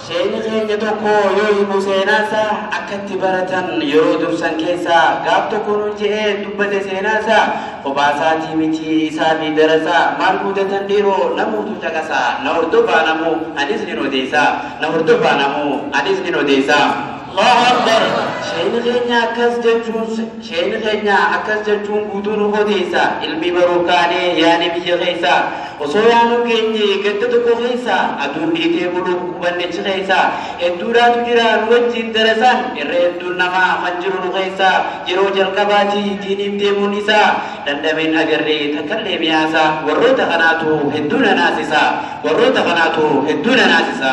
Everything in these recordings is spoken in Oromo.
Sheeyni keenya tokko yoo himu seenaa isaa akka itti baratan yeroo dursan keessa gaaf tokko nuun je'ee dubbate seenaa isaa kophaa isaatii miti isaa fi darasaa maal muudatan dhiiroo namuutu caqasa na hordofaa namuu anis nin odeessa na hordofaa namuu anis nin odeessa. Allahu Akbar Sheeyni keenya akkas jechuun Sheeyni keenya akkas jechuun guutuu nu odeessa, Ilmii baruuf kaanee yaane biyya keessa. Osoo yaanuu geenye ganda tokko keessa, Aduun dhiitee buluuf qubanne achi keessa. Hedduudhaatu jira nu wajjiin darasaan, Irra hedduun namaa kan jiru nu keessa. Yeroo jalqabaati diiniif deemuun isaa, Dhandhameen agarree takkallee mi'aasaa. Warroota kanaatu hedduu na naasisa, Warroota kanaatu hedduu na naasisa.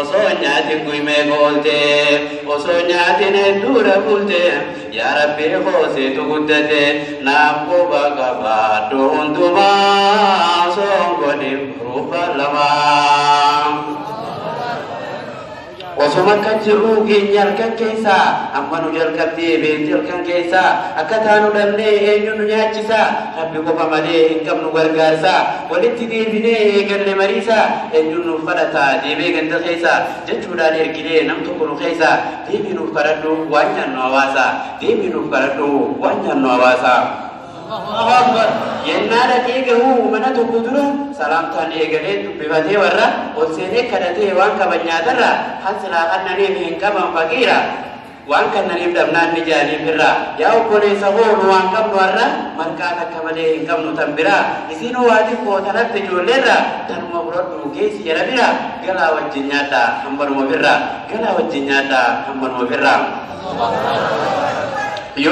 Osoo hin nyaatin guy meeqa oolte Osoo hin nyaatin hedduudha bulte Yaa Rabbii koo seetu guddate Naaf quba qabaadhu hundumaa Osoo hin godhin ruufa lamaa Osoma akka jirru keenya halkan keessa amma nu jalqabdee beekti halkan keessa akka taanu dhabnee eenyu nu nyaachisa Rabbi qofa malee hin qabnu gargaarsaa Walitti deebinee eegalle mariisaa Eenyuun nuuf kadhata deebee ganda keessa Jechuudhaan erginee nam tokko nu keessa Deebii nuuf kadhadhu waan nyaannu hawaasa Deebii nuuf kadhadhu waan nyaannu hawaasa Allahu Akbar Yennaa dhaqee gahu mana tokko dura Salaamtaan eegalee dubbifatee warra Ol seenee kadhatee waan qaban nyaatarra Kan silaa kannaneef hin qaban faqiira Waan kannaniif dhabnaan ni jaanii birraa. Yaa obboleessa koo nu waan qabnu har'a marqaa takka malee hin qabnu tan biraa. Isiinoo waa xiqqoo tan hafte ijoolleerraa tanuma fudhadhu geessi jara biraa. Galaa wajjin nyaadhaa hammanuma birraa. Galaa wajjin nyaadhaa hammanuma birraa.